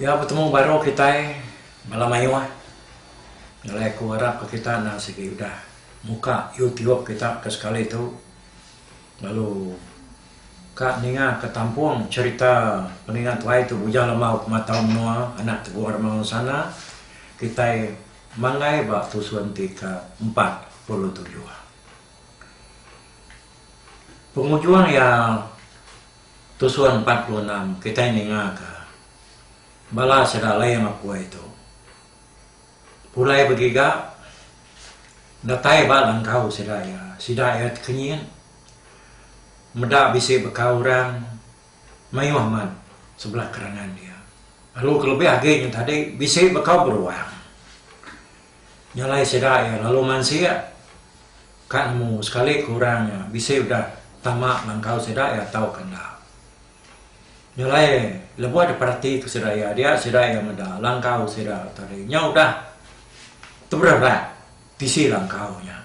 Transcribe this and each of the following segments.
Iya betemu baru kitai bala mayuh nyadi aku arap ka kita enda sigi udah muka youtube kita ke sekali tu lalu ka ninga ka tampung cerita peninga tuai tu ujan lema kuma tau menua anak teguh remang ensana kitai manggai ba tusun ti ke empat puluh tujuh. Pengujung iya tusur empat puluh enam kitai ninga ka bala sida alai mapui tu pulai begiga datai ba langkau sida iya sida iya tekenyit meda bisi beka orang mayuh amat sebelah kerangan dia lalu kelebih agi nya tadi bisi beka beruang. Nya alai sida iya lalu mansik ka nemu sekali ke orang nya bisi udah tama langkau sida iya tauka enda. Nya alai lebuh diperatika sida iya dia sida iya meda langkau sida tadi nya udah teberebak bisi langkau nya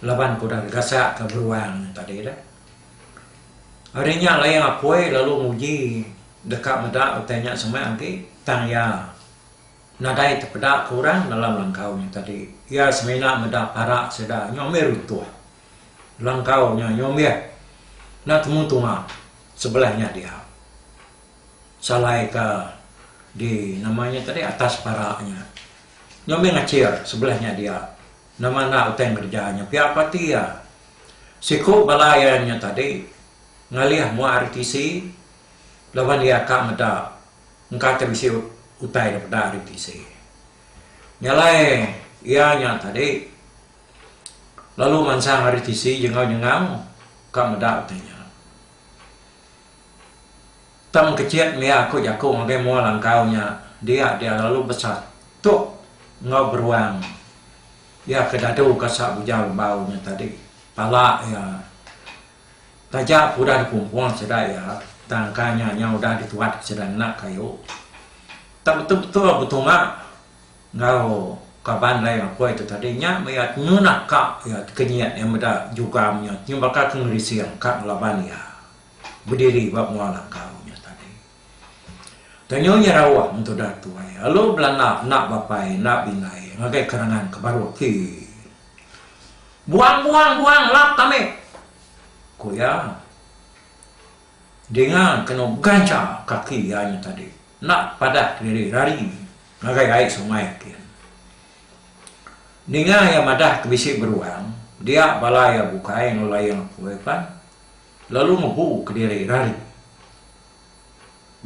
laban ke udah digasaka beruang nya tadi dah. Ari nya alai Apoi lalu nguji deka meda utai nya semah agi tang iya. Nadai tepeda ke orang dalam langkau nya tadi. Iya semina meda parak sida nyombih runtuh. Langkau nya nyombih enda temu tunga sebelah nya dia. Salai ke di nama nya tadi atas parak nya. Nyombih ngachir sebelah nya dia. Nama enda utai ngereja nya pia ko ati iya. Siku bala iya nya tadi ngalih mua RTC laban iya ka meda. Engka ke bisi utai da peda ari tisi. Nyalai iya nya tadi lalu mansang ari tisi jengau-jengau ka meda utai nya. Tang kecit mia aku jaku ngagai mua langkau nya dia dia lalu besatuk enggau beruang iya ke dadu ka sa bujau lebau nya tadi pala iya. Taja aku udah dikumpul sida iya, tang kai nya nya udah dituatka sida ngena kayu. Tang betul-betul betunga enggau kaban Lai Ngakoi tu tadi nya meh iya nyunak ka iya ti kenyit iya meda jugam nya nyebaka ke ngerising ka ngelaban iya bediri ba menua langkau nya tadi. Tanyu nya rauh mentu udah tuai, alu belanda enda bapai enda bindai ngagai kerangan ke baru ti. Buang buang buang lap tame, ku iya. Dinga kenu gancha kaki iya nya tadi enda padah kediri rari ngagai ai sungai kin. Ninga iya madah ke bisi beruang, dia bala iya bukai enggau layang apui pan lalu ngebu kediri rari.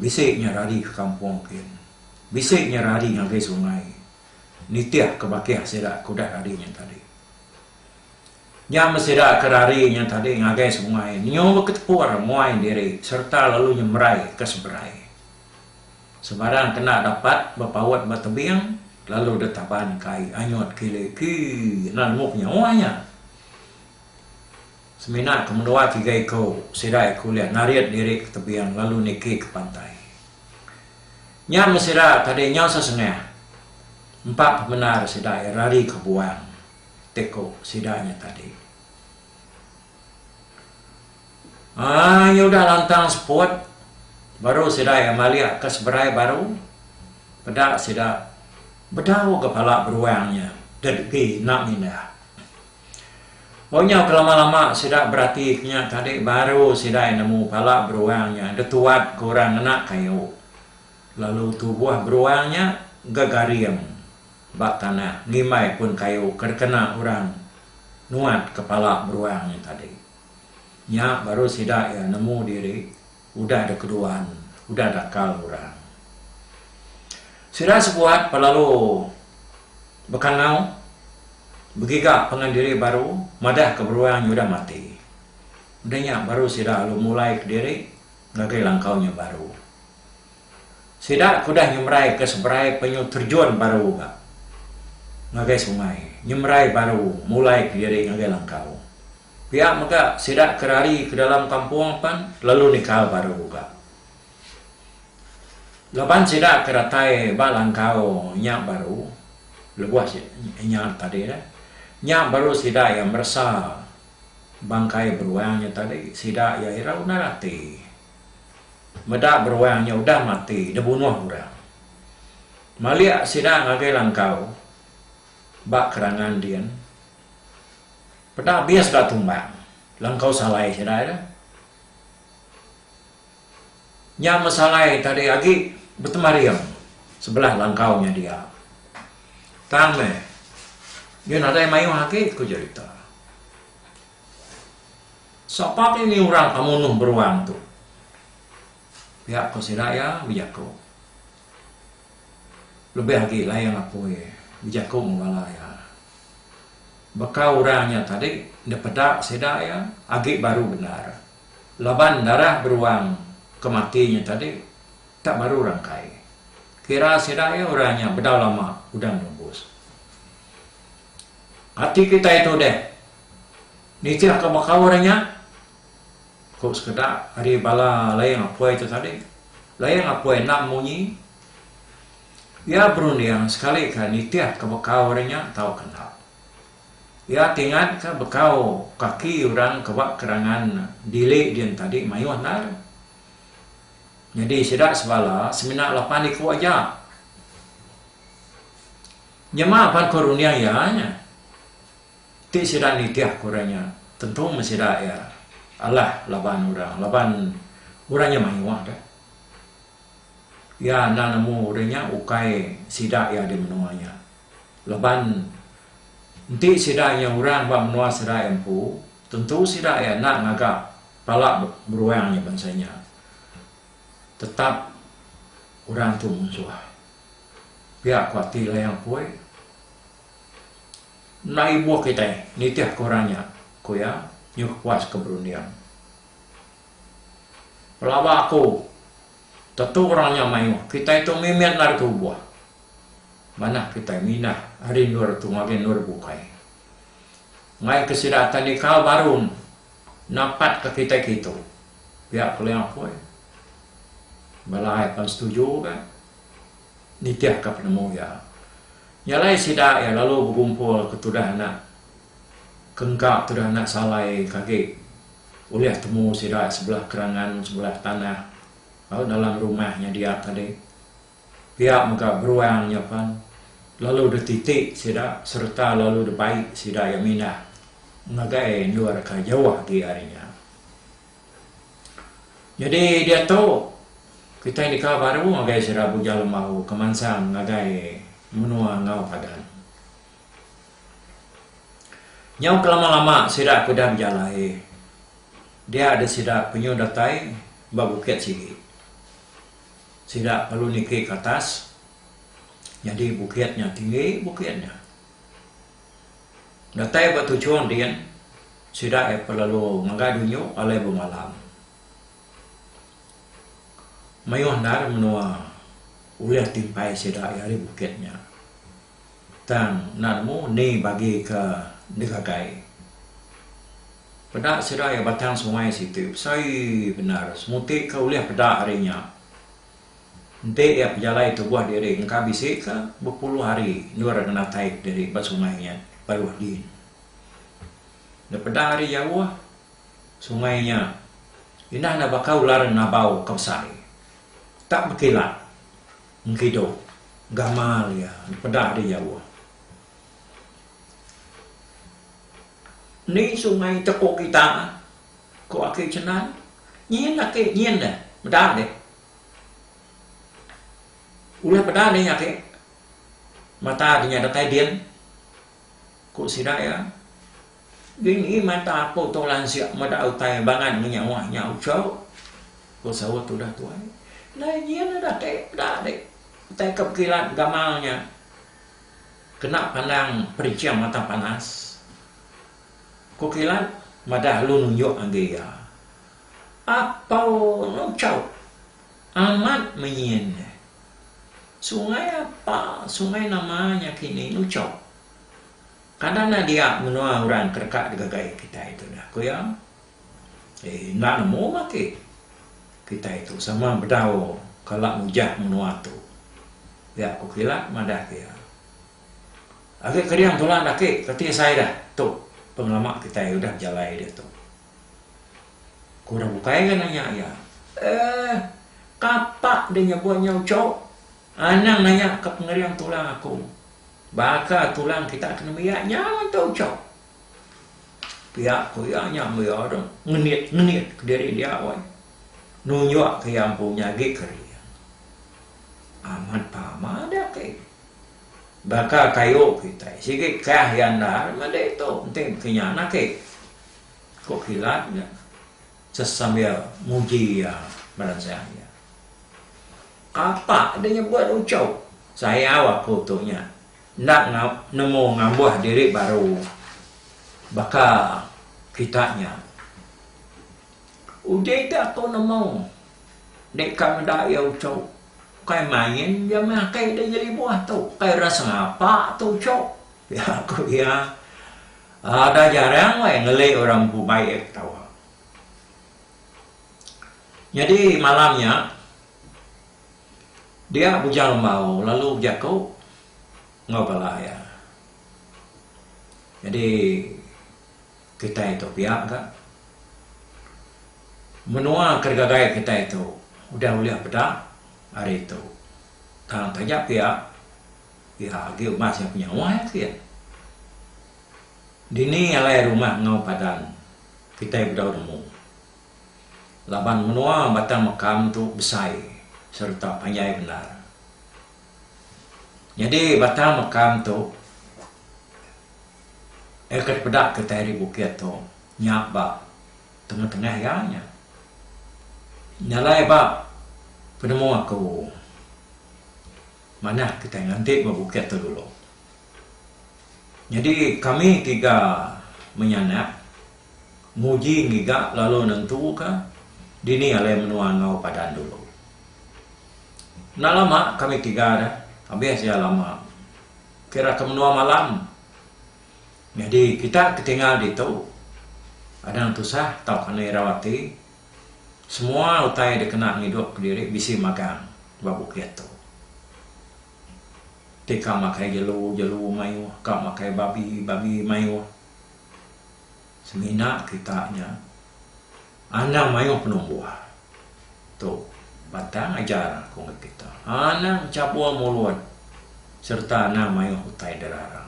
Bisi nya rari ke kampung kin. Bisi nya rari ngagai sungai. nitihka bakih sida ke udah rari nya tadi. Nya meh sida ke rari nya tadi ngagai sungai nyu beketepur muai diri sereta lalu nyemerai ke seberai. Sebarang kena dapat bepaut ba tebing lalu detaban ke ai anyut kili ki enda nemu penyawa nya. Semina ke menua tiga iku sida iku ulih narit diri ke tebing lalu niki ke pantai. Nya meh sida tadi nyau sesengah empa pemendar sida iya rari ke buang ti ku sida nya tadi. Ai nya udah lantang seput baru sida iya malik ke seberai baru peda sida bedau ga pala beruang nya degi enda mindah. Ba nyau kelama-lama sida berati ke nya tadi baru sida nemu pala beruang nya detuat ke orang ngena kayu lalu tubuh beruang nya gegaring ba tanah ngimbai pun kayu ke dikena orang nuat ke pala beruang nya tadi. Nya baru sida iya nemu diri Udah da keduan, udah dakal orang. Sida sebuat pa lalu bekangau, begiga pangan diri baru madah ke beruang nya udah mati. Udah nya baru sida lalu mulai ke diri ngagai langkau nya baru. Sida ke udah nyemerai ke seberai penyu terjun baru ga ngagai sungai, nyemerai baru mulai ke diri ngagai langkau. Pia mega sida ke rari ke dalam kampung pan lalu nikal baru uga. Laban sida ke datai ba langkau nya baru lebuh nya tadi dah. Nya baru sida iya meresa bangkai beruang nya tadi. Sida iya irau nara ati meda beruang nya udah mati dibunuh orang. Malik sida ngagai langkau ba kerangan din. Peda bis da tumbang langkau salai sida ira. Nya meh salai tadi agi betemaring sebelah langkau nya dia. Tang meh nyu nadai mayuh agi ku jerita. Sapa ti ni orang pemunuh beruang tu? pia ku sida iya bejaku. Lebih agi Layang Apui bejaku enggau bala iya. Baka orang nya tadi enda peda sida iya agi baru bendar laban darah beruang ke mati nya tadi tak baru rangkai. Kira sida iya orang nya bedau lama udah nerubus. Ati kitai tu deh nitihka baka orang nya. Ku sekeda ari bala Layang Apuai tu tadi, Layang Apuai endang munyi, iya berunding sekalika nitihka bekau ari nya tauka enda. Iya ti ngatka bekau kaki orang ke ba kerangan dili din tadi mayuh endar. Nyadi sida sebala semina lapan iku aja. Nyema pan ku runding iya nya. Ti sida nitih ku orang nya tentu meh sida iya alah laban orang laban orang nya mayuh deh. Iya enda nemu orang nya ukai sida iya di menua nya laban enti sida nya orang ba menua sida iya empu tentu sida iya enda ngaga pala beruang nya bansa nya tetap orang tu munsuh pia ku ati Layang Poi. Enda ibuh kitai nitihka orang nya, ku iya nyuh puas ke berunding. Pelaba aku, tetu orang nya mayuh kitai tu mimit ngarika ubuh. Manah kitai mindah ari endur tu ngagai endur bukai. Ngaika sida tandika barun napatka kitai kitu, pia Keling Apoi. Bala ai pan setuju ga. Nitihka penemu iya, nya alai sida iya lalu bekumpul ke tudah anak ke engka tudah anak salai ke agi ulih temu sida iya sebelah kerangan sebelah tanah lalu dalam rumah nya dia tadi. Pia mega beruang nya pan lalu dititi sida sereta lalu dibai sida iya mindah ngagai endur ke jauh agi ari nya. Nyadi diatu, kitai deka baru ngagai sida Buja Lembau ke mansang ngagai menua enggau pagan. Nyau kelama-lama sida ke udah bejalai, dia deh sida penyuh datai ba bukit sigi. Sida perlu niki ke atas, nyadi bukit nya tinggi bukit nya. Datai ba tuchung din, sida ai pelalu ngagai dunyu alai bemalam. Mayuh endar menua ulih timpai sida iya ari bukit nya. Tang enda nemu ni bagi ke digagai. Peda sida iya batang sungai situ besai bendar. Semuti ke ulih peda ari nya. Enti iya pejalai tubuh diri engka bisi ke bepuluh hari endur ngenatai diri ba sungai nya baruh din. Enda peda ari jauh sungai nya indah enda baka ular ngabau ke besai. Tak bekilat engkidu gamal iya enda peda ari jauh. Ni sungai tepu kita? ku aki Cenan. Nyin aki, nyin deh. Meda dih. Ulah peda nih agi mata deh nya datai din ku sida iya. Dini mata aku tu lansik meda utai bangan meh nyawa nya uchu ku saut tudah tuai. Dah nyin udah agi peda deh utai ke pekilat gamal nya kena pandang periching mata panas. Ku kilat madah lu nunjuk agi iya. Apau Long Chau amat menyin nya. Sungai apa sungai nama nya kini Lu Chau. Kada enda dia menua orang ke deka digagai kitai tu dah, ku iya. Ei, enda nemu mah agi kitai tu sama bedau kala ngujah menua tu. Pia ku kilat madah iya. Agi ke dia entulan agi ke ti sai dah tu pengelama kitai udah bejalai diatu. Ku orang bukai ke nanya iya. Eh, kapa deh nyebut nya uchup? Anang nanya ke pengering tulang aku. Baka tulang kita ke nembiak nya mun tu uchup? Pia ku iya nya meh iya tu ngenit-ngenit kediri dia weh. Nunjuk ke iya empu nyagi kering. Amat pama deh ke. Baka kayu kitai sigi kah iya endar meh ditu enti ke nya na ke. Ko kilat nya sesambil muji iya meransang iya. Kapa deh nyebut ucho. Sayau aku tu nya enda nemu ngambuh diri baru baka kita nya. Uji ti aku nemu dek ka meda iya ucho ukai main ja meh akai deh nyelibuh tu ukai ra sengapa tu ucho. Pia ku iya, Ada jarang wai ngeli orang empu baik ketawa. Nyadi malam nya, dia Bujang Lembau lalu bejaku enggau bala iya. Nyadi kitai tu pia ga. Menua ke digagai kitai tu udah ulih peda ari tu. Tang taja pia. Pia agi uban sida penyawa iya ke iya. Dini alai rumah enggau padan kitai bedau nemu. Laban menua batang mekam tu besai sereta panjai bendar. Nyadi batang mekam tu iya ke dipeda kitai ari bukit tu nya ba tengah-tengah iya nya. Nya alai ba penemu aku. Manah kitai nganti ba Bukit Telulu. Nyadi kami tiga menyanak nguji ngiga lalu nentuka dini alai menua enggau padan dulu. Enda lama kami tiga dah habis iya lama kira ke menua malam. Nyadi kita ke tinggal ditu anang tusah tauka irau ati. Semua utai da kena ngidup diri bisi magang ba bukit tu. Ti ka makai jelu, jelu mayuh, ka makai babi, babi mayuh. Semina kita nya anang mayuh penumbuh. Tu pantang ajar aku ngagai kita. Anang chabur mulut sereta anang mayuh utai derara.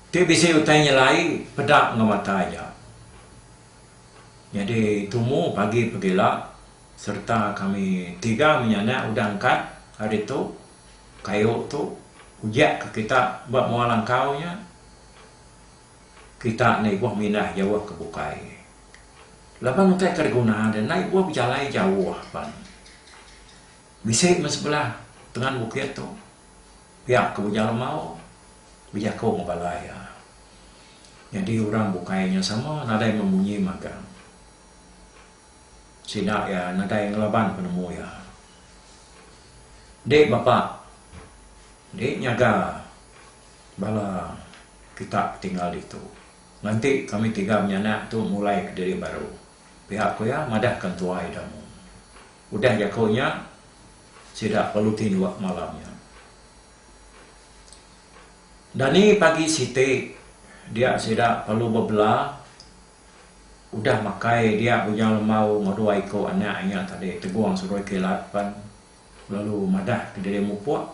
Tu bisi utai nyelai peda enggau mata iya. Nyadi tumu pagi pegila sereta kami tiga menyanak udah engkat ari tu kayu tu ujak ke kita ba mua langkau nya kita enda ibuh mindah jauh ke bukai laban utai ke diguna deh enda ibuh bejalai jauh pan bisi meh sebelah tengan bukit tu. Pia ke ujar Amau, bejaku enggau bala iya. Nyadi orang bukai nya sama nadai memunyi magang. Sida iya nadai ngelaban penemu iya. Enti bapa enti nyaga bala kita ke tinggal ditu, nganti kami tiga menyanak tu mulai kediri baru, pia ku iya madahka entua Ida Mung. Udah jaku nya, Sida perlu tinduk malam nya. Dani pagi siti dia sida perlu bebela udah makai dia Bujang Lemau enggau dua iko anak inya tadi Tegong Seroi Kilat pan lalu madah ke diri mupuk.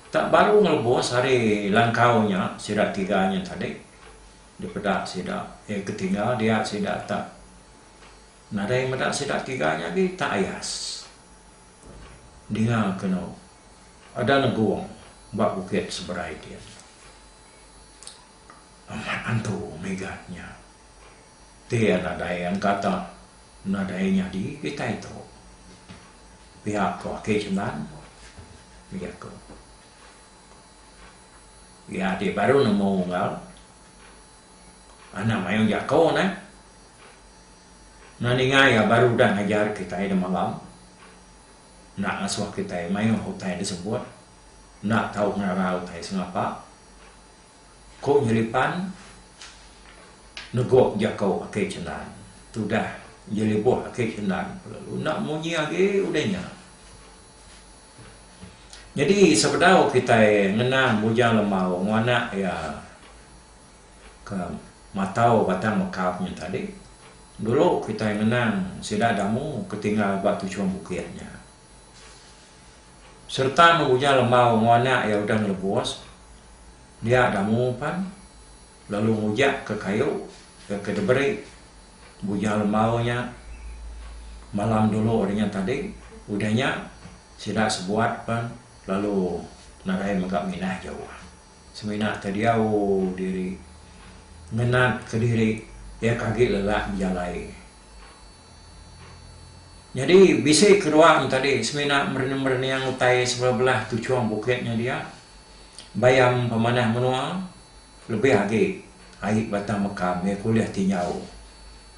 Tak baru ngelebus hari langkau nya sida tiga nya tadi dipeda sida ketinggal dia sida tak. Nadai meda sida tiga nya agi tak ayas dinga keno ada negong ba bukit seberai dia nya. Amat antu Megat nya pia nadai engkata nadai nyadi kitai tu. Pia ko aki sendan iya ko. Iya ti baru nemu enggau anang mayuh jako neh. Enda ninga iya baru udah ngajar kitai demalam, enda ngasuh kitai mayuh utai disebut, enda tau ngerara utai sengapa, ku Nyelipan negup jaku Akei Cendan. Tudah iya lebuh Akei Cendan lalu enda munyi agi udah nya. Nyadi sebedau kitai ngena Bujang Lembau enggau anak iya, ke matau batang mekap nya tadi, dulu kitai ngenang sida damu ke tinggal ba tuchum bukit nya sereta ngebuja lembau enggau anak iya udah ngelebus dia damu pan lalu ngujakka kayu iya ke diberi buja lembau nya malam dulu hari nya tadi. Udah nya sida sebuat pan lalu nadai mega minah jauh. Semina ke diau diri. Ngenat ke diri iya ke agi lelak bejalai. Nyadi bisi kedua nya tadi semina merening-merening utai sebelah-belah tuchung bukit nya dia. Bayam pemanah menua lebih agi ai batang meka mih ke ulih tinjau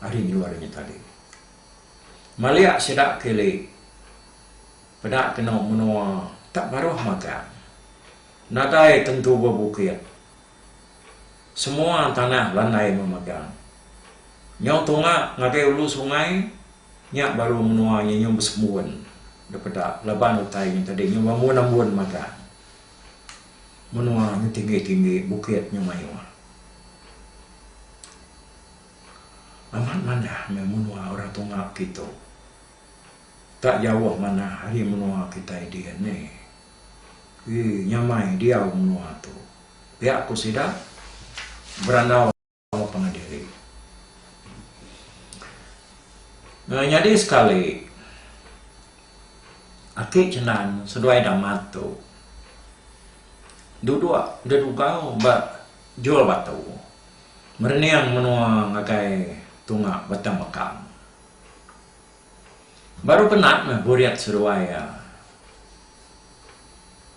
ari endur nya tadi. Malik sida kili peda kenu menua tak baruh magang. Nadai tentu bebukit. Semua tanah landai memagang. Nyau tunga ngagai ulu sungai, nya baru menua nya nyau besembun daripada laban utai nya tadi nyau bambun-ambun magang. Menua nya tinggi-tinggi, bukit nya mayuh. Amat manah meh menua orang tunga kitu. Tak jauh manah ari menua kitai dian nih. Ii nyamai diau menua tu. Pia ku sida, berandau pengadiri. Ii nyadi sekali, aki Cenan seduai Damat tu duduk dedugau ba Jol Batu merening menua ngagai tunga Batang Bekang. Baru penat meh Buriat seruai iya.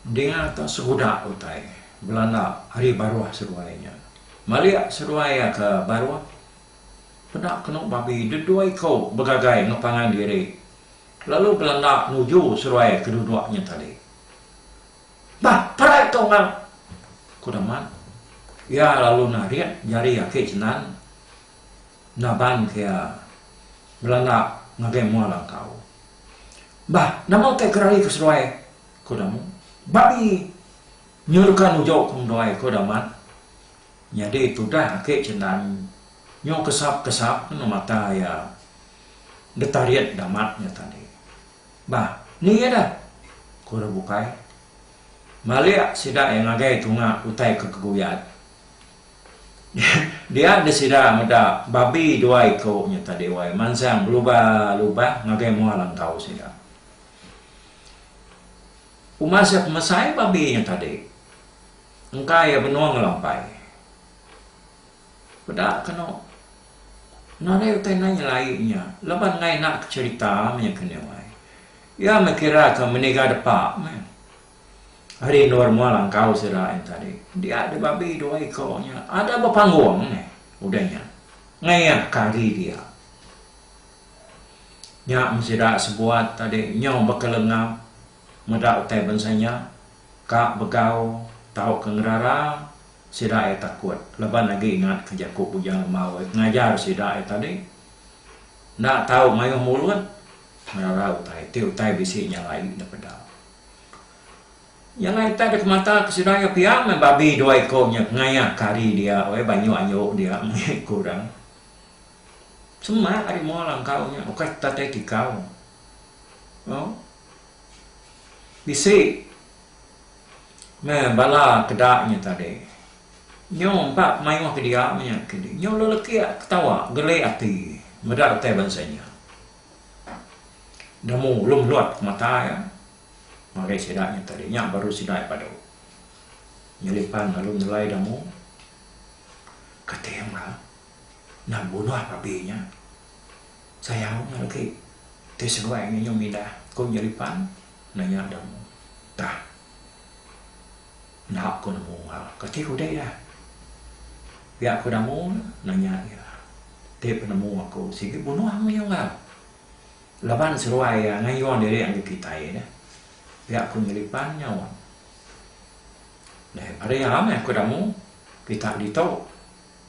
Dinga tu seguda utai Belanda ari baruh seruai nya. Malik seruai iya ke baruh, peda kenu babi dedoi ko begagai ngepangan diri lalu Belanda nuju seruai ke duduk nya tadi. Bah, parai ko enggau! ku Damat. Iya lalu narit jari aki Jenan nabanka iya Belanga ngagai mua langkau. Bah, nama utai ke rari ke seduai? ku Damu. Babi! Nyurka nuju ku ngeduai, ku Damat. Nyadi tudah agi Cenan nyu kesap-kesap enggau mata iya. Detarit Damat nya tadi. Bah, ni iya dah! ku Rebukai. Malik sida iya ngagai tunga utai ke keguyad. Dia deh sida meda babi dua iku nya tadi wai mansang belubah-lubah ngagai mua langkau sida. Uma sia pemesai babi nya tadi engka iya benung ngelampai. Peda kenu nadai utai endang nyelai nya laban enggau inaka cherita meh nya ke nih wai. Iya meh kira ke meniga depa meh. Ari endur mua langkau sida nya tadi, dia di babi dua iko nya ada bepanggung meh udah nya ngeyah ka ari dia. Nya men sida sebuat tadi nyau bekelengap meda utai bansa nya ka begau tauka ngerara sida iya takut laban agi ingat ka jaku Bujang Lemau iya ke ngajar sida iya tadi enda tau mayuh mulut ngerara utai ti utai bisi nya alai dipeda. Iya lah itai deka mata ke sida iya pia meh babi dua iku nya ke ngayak ke ari dia weh banyu anyu dia meh iya iku dang. Semak ari mua langkau nya ukai kita tai tikau. Au. Bisi meh bala ke da nya tadi. Nyau empa mayuh ke dia meh nya ke di. Nyau lelekik ketawa geli ati meda utai bansa nya. Nemu ulung Lot pemata iya ngagai sida nya tadi nya baru sida iya padu nyelih pan lalu nyelai nemu kating ka enda bunuh babi nya sayau nya lagi ti seduai nya nyau mindah ku nyelih pan nanya nemu tah. Enda aku nemu ha. Kati ku deh iya. Pia aku namu ne? nanya iya. Ti penemu aku sigi bunuh mih unggal. Laban seruai iya ngayun diri andu kitai deh. Pia aku nyelipan nyaut. Deh pada iya mih aku namu kita ditu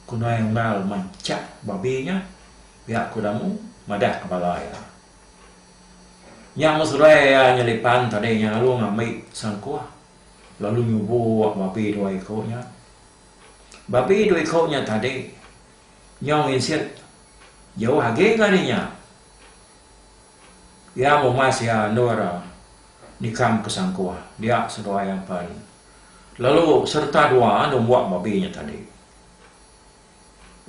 kunoi unggal manchak babi nya. Pia aku namu madah ke bala iya. Nya meh seruai iya nyelipan tadi nya lalu ngambi sangkuh. lalu nyubok babi dua iko nya. Babi dua iko nya tadi nyau nginsik jauh agi enggau ari nya. Iya mumas iya endur nikam ke sangkuh dia seduai apan lalu sereta dua numbok babi nya tadi.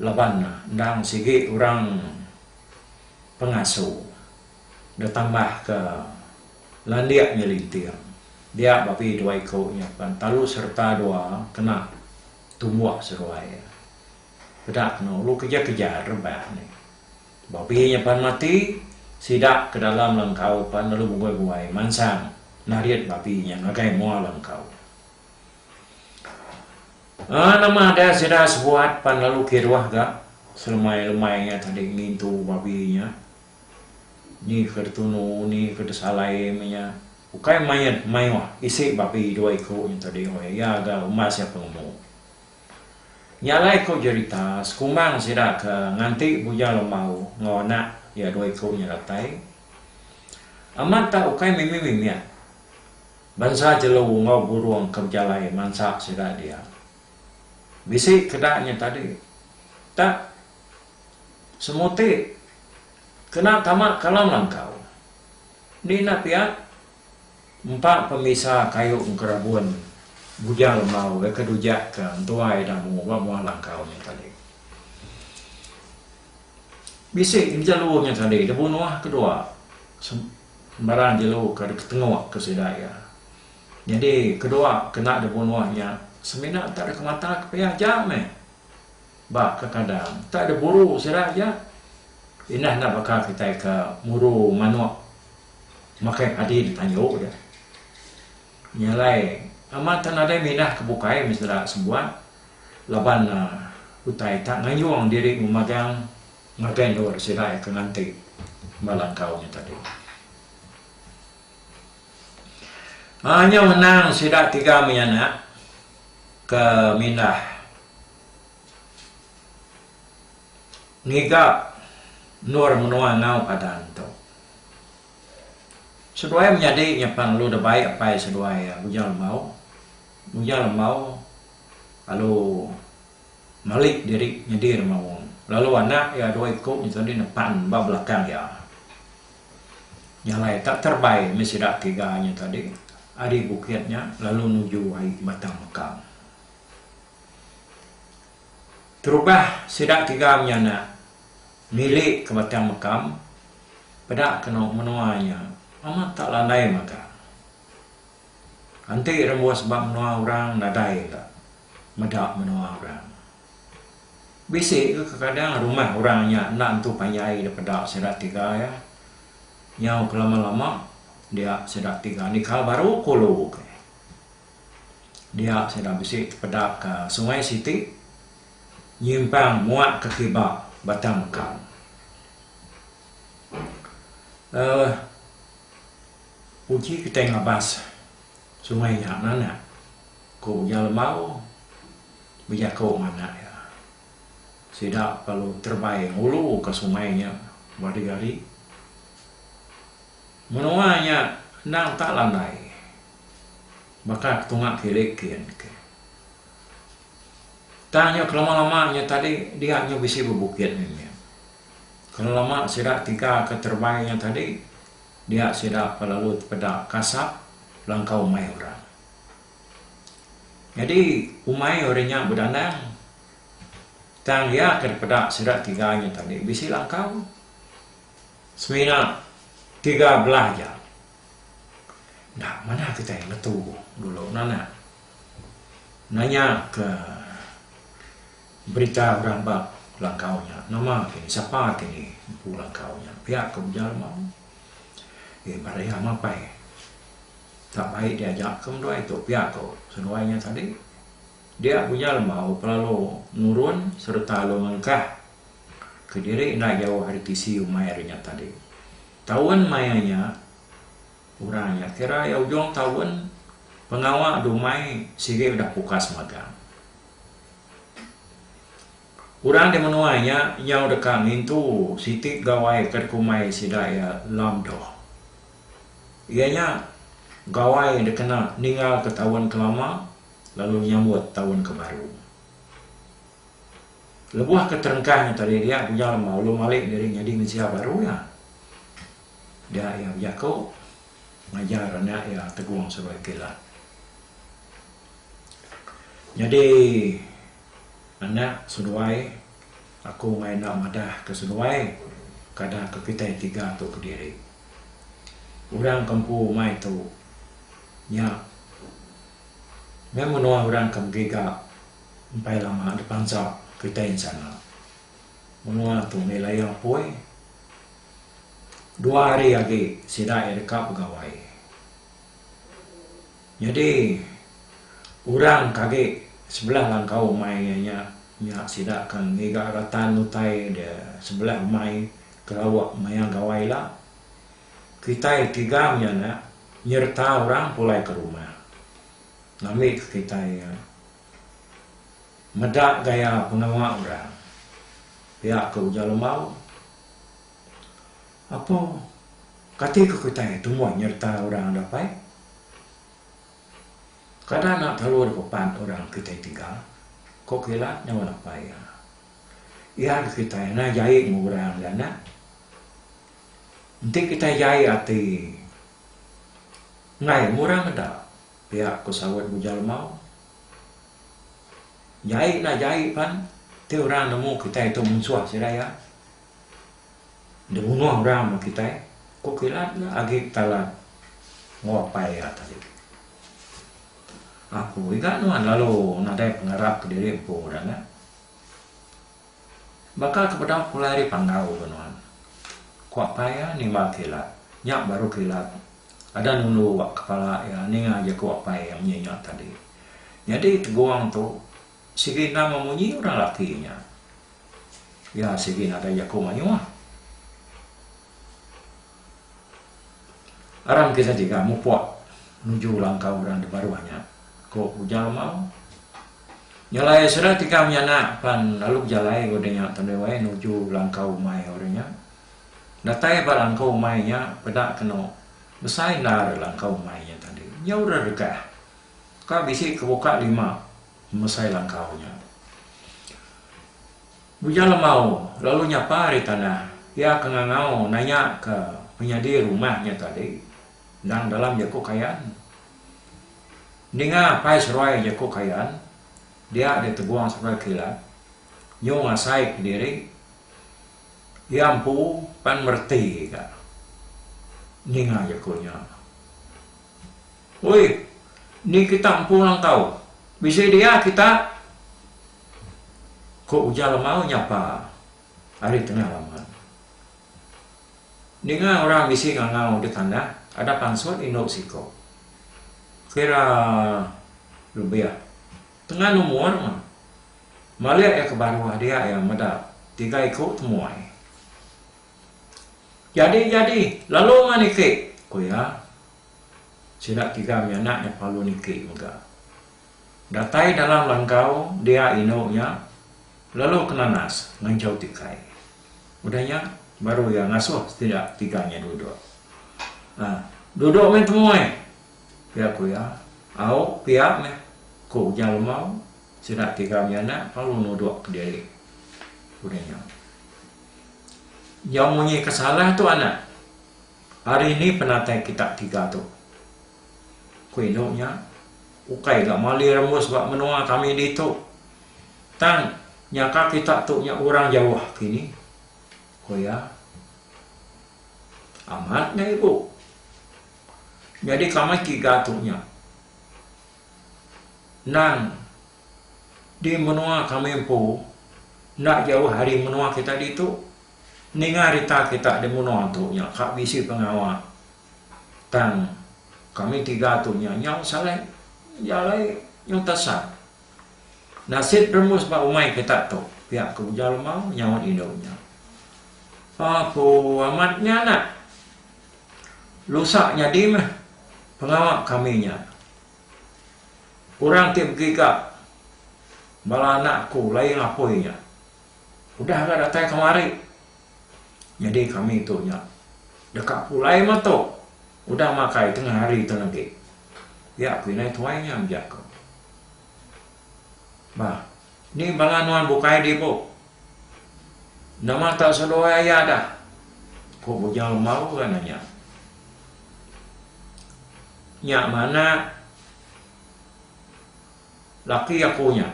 laban endang sigi orang pengasu betambah ke landik nyelinting dia babi dua iku nya pen talu sereta dua kena tumbuh seruai peda kena ulu kejar kejar rebak nya babi nya pan mati sida ke dalam langkau pan lalu bungoi bungoi mansang narit babi nya ngagai mua langkau. Ah nama ada sida sebuat pan lalu kiruh ga selemai-lemai nya tadi ngintu babi nya ni ke ditunu ni ke disalai meh nya ukai mayuh mayuh isi babi dua iku nya tadi weh iya ga umbas iya penemu. Nya alai ku jerita sekumbang sida ke nganti Bujang Lembau enggau anak iya dua iku nya datai amat tak ukai mimit-mimit. Bansa jelu enggau burung ke bejalai mansa sida dia. Bisi keda nya tadi. Tak semuti kena tama ke alam langkau. Ni enda pia empa pemisa kayu engkerabun bujal enggau ke dujak ke entua ida mungu ba mua langkau nya tadi. Bisi bejalu nya tadi lebuh nuah ke dua sembarang jelu ke deka tengok ke sida iya. Nyadi ke dua kena lebuh nuah nya semina enta deka mata ke pia aja meh. Ba kekadang enta ada buru sida aja indah enda baka kitai ke muru manok makai padi di tanjok ja. Nya alai, amat tak nadai minah ke bukai mesra sebuat laban utai tak nganjung diri memagang ngagai endur sida iya ke nganti ba langkau nya tadi. Haa nyau anang sida tiga mih anak ke mindah ngiga endur menua enggau padan tu. Seduai menyadi nya pan lalu da baik apai seduai Uja Lembau. Uja Lembau lalu malik diri nyadi orang maung lalu anak iya dua iku nya tau nih nepan ba belakang iya. Nya alai tak terbai mih sida tiga nya tadi ari bukit nya lalu nuju ai Batang Mekang. Terubah sida tiga menyana. Miri ke batang mekam, peda keno menua nya amat tak landai magang. Enti rembus ba menua orang nadai ga meda menua orang. Bisi ga kekadang rumah orang nya enda entu panjai depeda sida tiga iya. Nyau ke lama-lama dia sida tiga nikal baru ku lu ke. Dia sida bisi tepeda ka sungai siti. nyimpang muak ke kiba batang mekau. Aaa uji kitai ngabas sungai nya nanak ku Uja Lembau bejaku enggau anak iya. Sida lalu terebai ngulu ka sungai nya ba hari hari. Menua nya endang tak landai baka ke tunga kilik kian ke. Tang nyu kelama-lama nyu tadi dia nyu bisi bebukit mimit. Kelama sida tiga ka terebai nyu tadi dia sida pa lalu tepeda kasap langkau umai orang. Nyadi umai orang nya bedandang tang iya ka dipeda sida tiga nyu tadi bisi langkau semina tiga belah aja. Enda manah kitai ngetu dulu nah anak. Nanya ke berita orang ba langkau nya nama kini sapa kini empu langkau nya pia ke Ujal Amang. Ye barai iya mapai tak baik diaja ke menduai tu pia ko seduai nya tadi. Dia Ujal Amau pelalu nurun sereta lalu ngelengkah kediri enda jauh ari tisi umai ari nya tadi. Taun maya nya, orang nya kira iya ujung taun pengawa dumai sigi udah pukas magang. Orang di menua nya nyau deka ngintu siti gawai ke dikumbai sida iya lamdoh. Iya nya gawai dikena ninggalka taun ke lama lalu nyambut taun ke baru. Lebuh ke terengkah nya tadi dia Bujang Lemau ulun malik diri nyadi mensia baru iya. Dia iya bejaku ngajar anak iya Tegong Seruai Kilat. Nyadi anak seduai aku meh enda madah ke seduai kada ke kitai tiga tu kediri. Orang ke empu umai tu nya meh menua orang ke begiga Empai lama dipansa kitai ensana. Menua tu mih laya poi. Dua hari agi sida iya deka begawai. Nyadi orang ke agi sebelah langkau umai iya nya, nya sida ke ngiga ratan utai de sebelah umai ke lawa maya gawai ila. Kitai tiga menyana nyereta orang pulai ke rumah. Ngambika kitai iya meda gaya pengawa orang pia ke ujar Lemau. Apo kati ke kitai tumbuh nyereta orang dapai? Kada enda telalu dipepat orang kitai tiga, ko kila nyau dapai iya. Iya agi kitai enda jai enggau orang ganak. Enti kitai jai ati. Enggai, murang enda, pia ku saut Bujal Mau. Jai nah jai pan, ti orang nemu kitai tu munsuh sida iya. Deh munuh orang ba kitai, ku kilat nya agi talat enggau apai iya tadi. Aku iga nuan lalu nadai pengarap kediri empu dah nya. Baka ke bedau pulai ari pandau ke nuan. Kuak paya nimba kilat. Nya baru kilat ada nulu wak kepala iya ninga jaku apai iya munyi nya tadi. Nyadi tegong tu sigi endang meh munyi orang laki nya. Iya sigi nadai jaku mayuh. Aram kita jegam mupok nuju langkau orang di baruh nya, ku ujar Mau. Nyelai sida tiga menyanak pan lalu bejalai enggau deh nya tandai wai nuju langkau umai orang nya. Datai ba langkau umai nya peda keno besai endar langkau umai nya tadi. Nyau ra regah. Ka bisi ke buka lima mesai langkau nya. Muja lemau lalu nyapa ari tanah. Pia ke ngangau nanya ke penyadi rumah nya tadi. Endang dalam jaku Kayan. Ninga apai seruai jaku Kayan, dia ditegung seruai kilat, nyu ngasai kediri iya empu pan mereti ga ninga jaku nya. Oi, ni kita empu langkau, bisi dia kita, ku Ujal Lemau nyapa ari tengah laman. Ninga orang bisi ngangau di tanah ada pansut indu siko. Kira lebih tengan umur mah. Malik iya ke baruh dia iya meda tiga iku temuai. Jadi jadi lalu mah niki, ku iya. Sida tiga menyanak iya palu niki mega. Datai dalam langkau dia indu nya lalu ke nanas ngenjau tikai. Udah nya baru iya ngasuh sida tiga nya duduk. Ha, duduk meh temuai. Pia ku iya. Au, pia meh, ku Ujang Lemau. Sida tiga nya anak lalu nuduk ke diri. Udah nya. Nyau munyi ke salah tu anak. Hari ni penatai kita tiga tu. Ku indu nya. Ukai ga mali rembus ba menoa kami ditu. Tang, nyaka kita tu nya urang jauh kini, ku iya. Amat nya ibu. Nyadi kamai tiga tu nya. Nang di menoa kami empu enda jauh ari menoa kita ditu. Ninga rita kita di menoa tu nya ka bisi pengawa. Tang kami tiga tu nya nyau salai iya alai nyau tasa. Nasit remus ba umai kita tu pia ke Ujar Lemau nyaut indu nya. Aku amat nya anak. Lusa nyadi meh pengawa kami nya. Orang ti begiga bala anak aku laing apui nya. udah ga datai kemari nyadi kami tu nya deka pulai meh tu udah makai tengah hari tu agi pia ku indai tuai nya meh jaku bah ni bala nuan bukai dibu nama tau seduai aya dah ku Bujang Lemau ga nanya nya meh anak. Laki aku nya.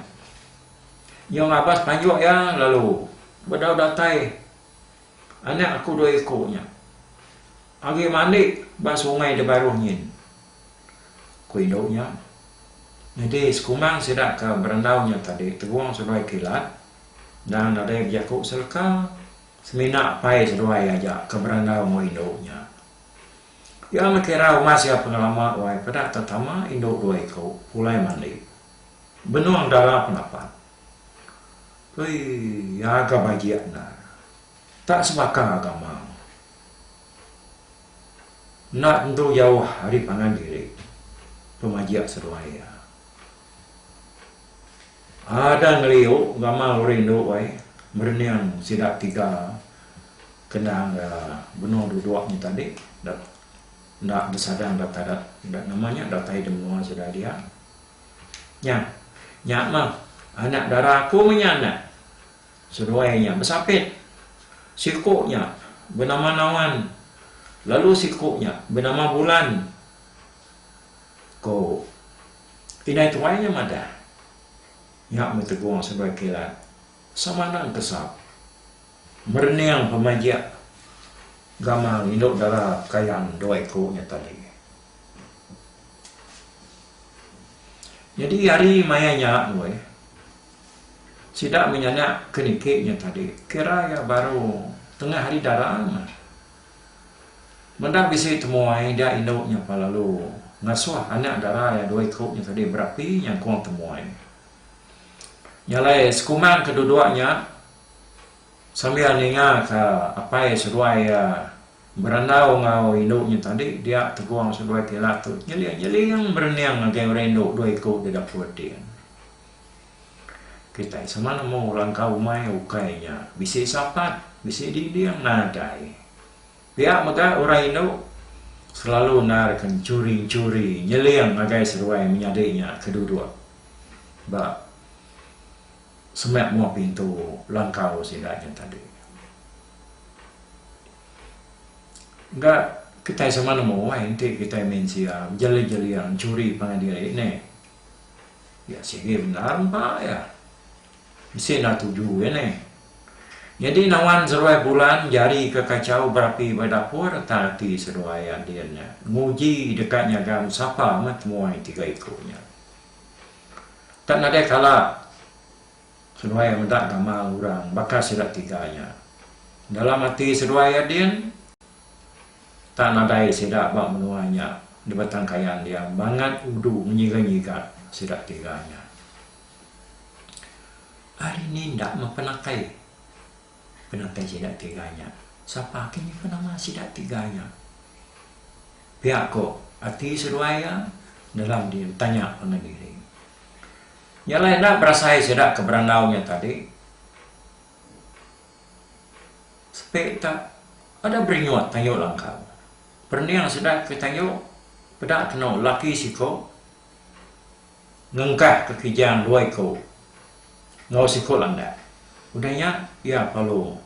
Iya ngabas panjuk iya lalu bedau datai anak aku dua iku nya agi mandi ba sungai di baruh nyin, ku indu nya. Nyadi sekumang sida ke berendau nya tadi tegong seduai kilat enda nadai bejaku seleka semina apai seduai aja ke berendau enggau indu nya. Iya ngekira umas iya pengelama wai peda tetama indu dua iku pulai mandi benung dara penapat. Ui iya ga bajik endar. Tak sebaka ga amang. Enda tentu jauh ari pangan diri pemajik seduai iya. Ada ngeliu gamal rindu wai merening sida tiga. Kena ga benung duduk nya tadi da enda besadang datai da enda nama nya datai da menua sida dia. Nya nya mah anak dara aku mah nya anak seduai nya besapit. Siku nya benama Nawan lalu siku nya benama Bulan, ku indai tuai nya madah. Nya meh tegong seduai kilat Samanang Kesap. Merening pemajik gamal indu dara kayan dua iku nya tadi. Nyadi ari maya nya weh sida menyanak ke niki nya tadi kira iya baru tengah hari dara mah. Meda bisi temuai dia indu nya pa lalu ngasuh anak dara iya dua iku nya tadi berapi nyangkung temuai. Nya alai sekumang ke duduk nya. Sambil ninga ka apai seduai iya berandau enggau indu nya tadi dia tegong seduai ti ila tu nyeling nyeling berening ngagai orang indu dua iku ti dapur ti. Kitai sama nemu langkau umai ukai nya bisi sapat bisi dinding nadai. Pia mega orang indu selalu endar ke churi churi nyeling ngagai seduai menyadi nya ke duduk ba Semak mua pintu langkau sida nya tadi. Ga kitai sama nemu ai enti kitai mensia bejeling-jeling enchuri pangan diri neh. Iya sigi bendar empa iya. Bisi enda tuju iya neh. Nyadi nawan seruai bulan jari ke kachau berapi ba dapur tang ati seduai Andin nya nguji deka nyagam sapa meh temuai tiga iku nya. Tang nadai kala seduai meda gamal orang baka sida tiga nya. Dalam ati seduai iya din, tang nadai sida ba menua nya di Batang Kayan diam bangat udu ngenyiga-nyiga sida tiga nya. Ari ni enda meh penakai. Penatai sida ti gaya. Sapa agi nyimpan nama sida ti gaya? Pia ko ati seduai iya dalam dia betanya pangan diri. Nya alai enda berasai sida ke berandau nya tadi. Sepe tak ada berinyut tayu langkau. Perening sida ke tayu peda keno laki siko. Ngengkah ke Kijang dua iku enggau siku landak. Udah nya, iya parlu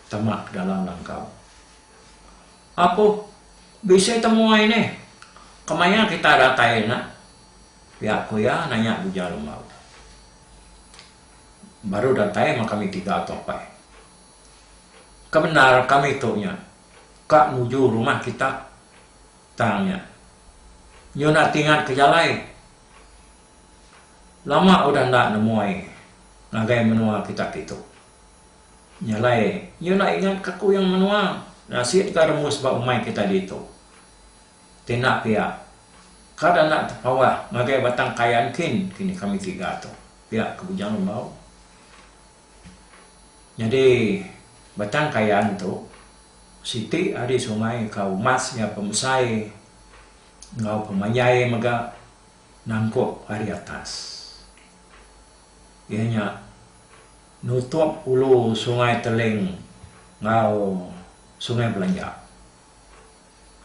tama ke dalam langkau. Apuh, bisi temuai nih. Kemaya kita datai nya? Pia ku iya nanya Buja Lembau. Baru datai meh kami tiga tu apai. Kebendar kami tu nya ka nuju rumah kita. Tang nya. Nyu enda tingat ke jalai. Lama udah enda nemuai ngagai menua kita kitu. Nya alai nyu enda ingat ka kuyung menua nya sik ga remus ba umai kita ditu. Ti enda pia ka da enda tepawah ngagai batang kayan kin kini kami tiga tu pia ke bujang lembau. Nyadi batang kayan tu siti ari sungai ka umas iya pemesai enggau pemanjai mega nangkup ari atas. Iya nya nutup ulu sungai Teling enggau sungai Belanja.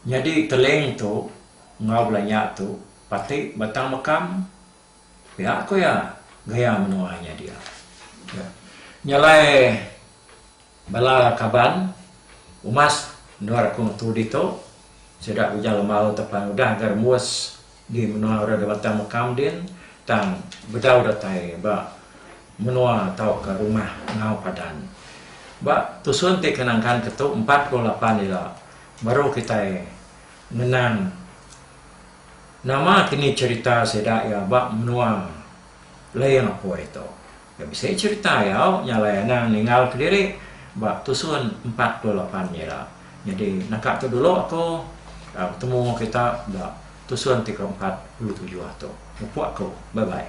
Nyadi Teling tu enggau Belanja tu pati batang mekam. Pia ko iya gaya menua inya dia. Nyalai bala kaban umas endur aku ngetu ditu sida Ujang Lemau te pan udah ga rembus di menua ora de batang mekam din tang bedau datai ba menua tauka rumah enggau padan. Ba tusun ti ke nangkan ke tu empat puluh lapan ila baru kitai ngenang. Nama ti ni cherita sida iya ba menua Layang Apoi tu. Iya bisi cherita iya nyalai anang ninggal kediri ba tusun empat puluh lapan ira. Nyadi naka tu dulu aku betemu kita ba tusun ti ke empat puluh tujuh tu. Mupok aku. Bye bye.